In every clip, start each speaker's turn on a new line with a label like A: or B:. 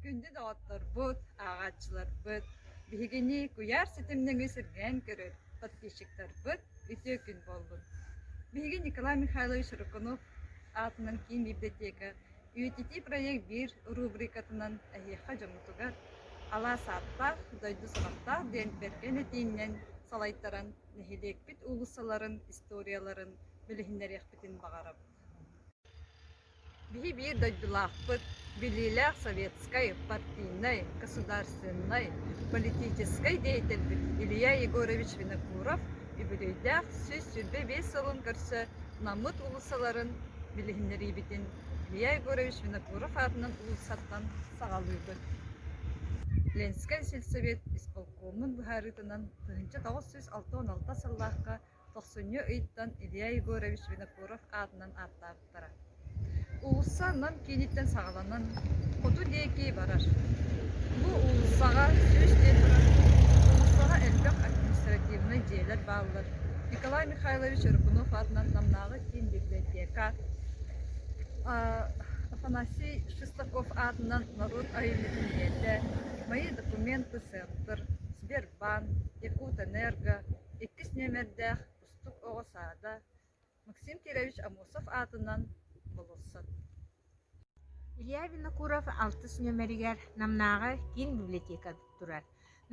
A: Күндү доҕотторбут, ааҕааччыларбыт! Биһигини куйаар ситим нөҥүө сиргээн көрөр подписчиктарбыт үтүө күн буоллун! Биһиги Николай Михайлович Рыкунов аатынан киин библиотека үйэтитии проект биир рубрикатынан эһиэхэ дьоммутугар алаас ааттаах, дойду саҕаттаах диэн бэркэн этииннэн салайтаран нэһилиэкпит уулуссаларын историяларын билиһиннэриэхпитин баҕарабыт Биһи биир дойдулаахпыт, билиилээх советскай, партийнай, государственнай, политическай деятельбит Илья Егорович Винокуров үбүлүөйдээх сүүс сүүрбэ биэс сылын көрсө Наммыт уулуссаларын билиһиннэриибитин Илья Егорович Винокуров аатынан уулуссаттан саҕалыыбыт Ленскэн сельсовет исполкома Оннун быһаарыытынан, тыһыынча тоҕус сүүс алта уон алта сыллаахха тохсунньу ыйтан Илья Егорович Винокуров аатынан ааттаабыттара. Уулусса Нам кииниттэн саҕаланан хоту диэки барар. Бу уулуссаҕа сүүс диэн турар уулуссаҕа элбэх административнай дьиэлэр бааллар. Николай Михайлович Рыбунов аатынан Намнааҕы киин библиотека Афанасий Шестаков аатынан норуот айымньытын ийэтэ Мои документы центр, Сбербанк, Якутэнерго иккис нүөмэрдээх Кустук оҕо саада Максим Кирович Амосов аатынан болурсат
B: Илья Винокуров алтыс нүөмэригэр Намнааҕы киин библиотека турар.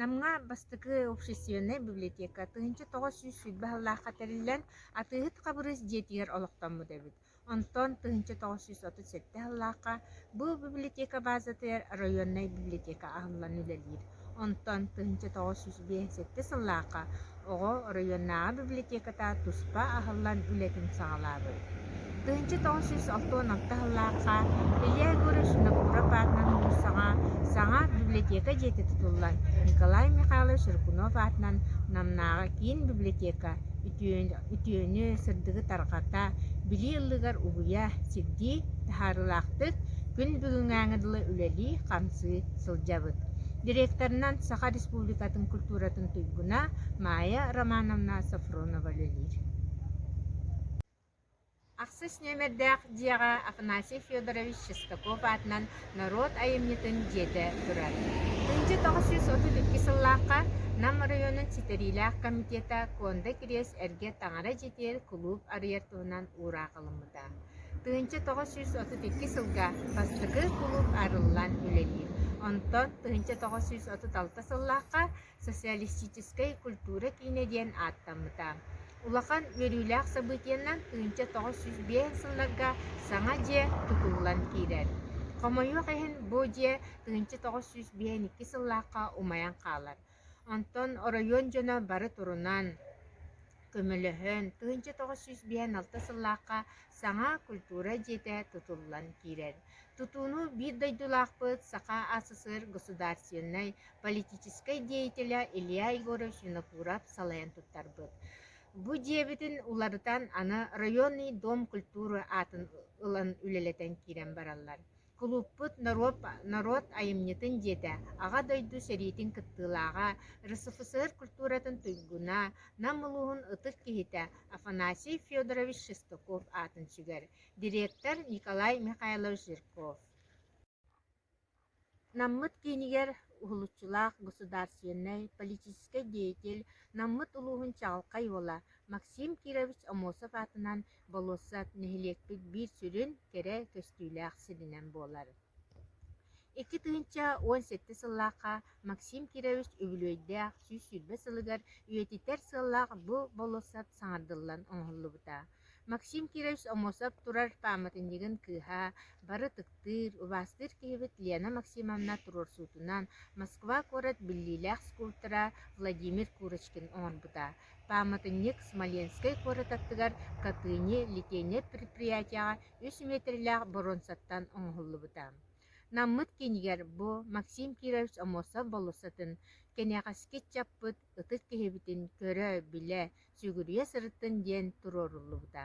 B: Намҥа бастакы общественнай библиотека тыһыынча тоҕус сүүс сүүрбэ сыллаахха тэриллэн, Атыыһыт Хабырыыс дьиэтигэр олохтоммут эбит. Онтон тыһыынча тоҕус сүүс отут сэттэ сыллаахха бу библиотека баазатыгар оройуоннай библиотека аһыллан үлэлиир. Онтон тыһыынча тоҕус сүүс биэс сэттэ сыллаахха оҕо оройуоннааҕы библиотеката туспа аһыллан үлэтин саҕалаабыт. Тыһыынча тоҕус сүүс алтан алта сыллаахха Илья Егорович Винокуров аатынан муусаҕа саҥа библиотека дьиэтэ тутуллан Николай Михайлович Рыкунов аатынан Намнааҕы киин библиотека үтүө үтүөнү, сырдыгы тарҕата, билии ыллыгар угуйа, сирдии таһаарыылаахтык күн бүгүҥҥээҥи дылы үлэлии-хамсыы сылдьабыт. Директорынан Саха Республикатын культуратын туйгуна Майя Романовна Софронова үлэлиир. Ахсыс нүөмэрдээх дьиэҕэ Афанасий Федорович Шестаков аатынан норуот айымньытын дьиэтэ турар. Ындьа тоҕус сүүс отут икки сыллаахха Нам оройуонун ситэриилээх комитета Куонда Кириэс эргэ таҥара дьитиэр кулууп арыйар туһунан уураахылыммыта. Тыһыынча тоҕус сүүс отут икки сылга бастакы кулууп арыллан үлэлиир. Онтон тыһыынча тоҕус сүүс отут алта сыллаахха социалистическай культура киинэ диэн ааттаммыта. Улахан үөрүүлээх событиенан тыынча тоҕус сүүс биэс сылларга саҥа дьиэ тутуллан киирэр. Хомойуох иһин, бу дьиэ тыынча тоҕус сүүс биэс икки сыллаахха умайан хаалар. Онтон оройуон дьоно бары турунан, көмөлөһөн, тыынча тоҕус сүүс биэс алта сыллаахха саҥа культура дьиэтэ тутуллан киирэр. Тутууну биир дойдулаахпыт, Саха СССР государственнай политическай деятеля Илья Егорович Винокуров салайан туттарбыт. Бу дьиэбитин уларытан аны районный дом культуры аатын ылан үлэлэтэн киирэн бараллар. Кулууппут норуот, норуот айымньытын дьиэтэ Аҕа дойду сэриитин кыттыылааҕа, РСФСР культуратын туйгуна, Нам улууһун ытык киһитэ Афанасий Федорович Шестаков аатын сүгэр. дириэктэр Николай Михайлович Зирков Наммыт киинигэр уһулуччулаах государственнай политическай деятель Наммыт улууһун чаҕылхай уола Максим Кирович Амосов аатынан болуоссат нэһилиэкпит биир сүрүн кэрэ көстүүлээх сиринэн буолар. Икки тыһыынча уон сэттэ сыллаахха Максим Кирович үбүлүөйдээх сүүс сүүрбэ сылыгар үйэтитэр сыаллаах бу болуоссат саҥардыллан оҥоһуллубута. Максим Кирович Омосов турар пааматынньыгын кыыһа, бары ытыктыыр, убаастыыр киһибит Лена Максимовна туруорсуутунан Москва куорат биллиилээх скульптора Владимир Курочкин оҥорбута. Пааматынньык Смоленскай куорат аттыгар Катыни Литейнай предприятиеҕа үс метрлээх боруонсаттан оҥоһуллубута. Наммыт киинигэр бу Максим Кирович Омосов болуоссатын, кэнэҕэски ыччаппыт, ытык киһибитин көрө-билэ, Сүгүрүйэ сырыттын диэн туруоруллубута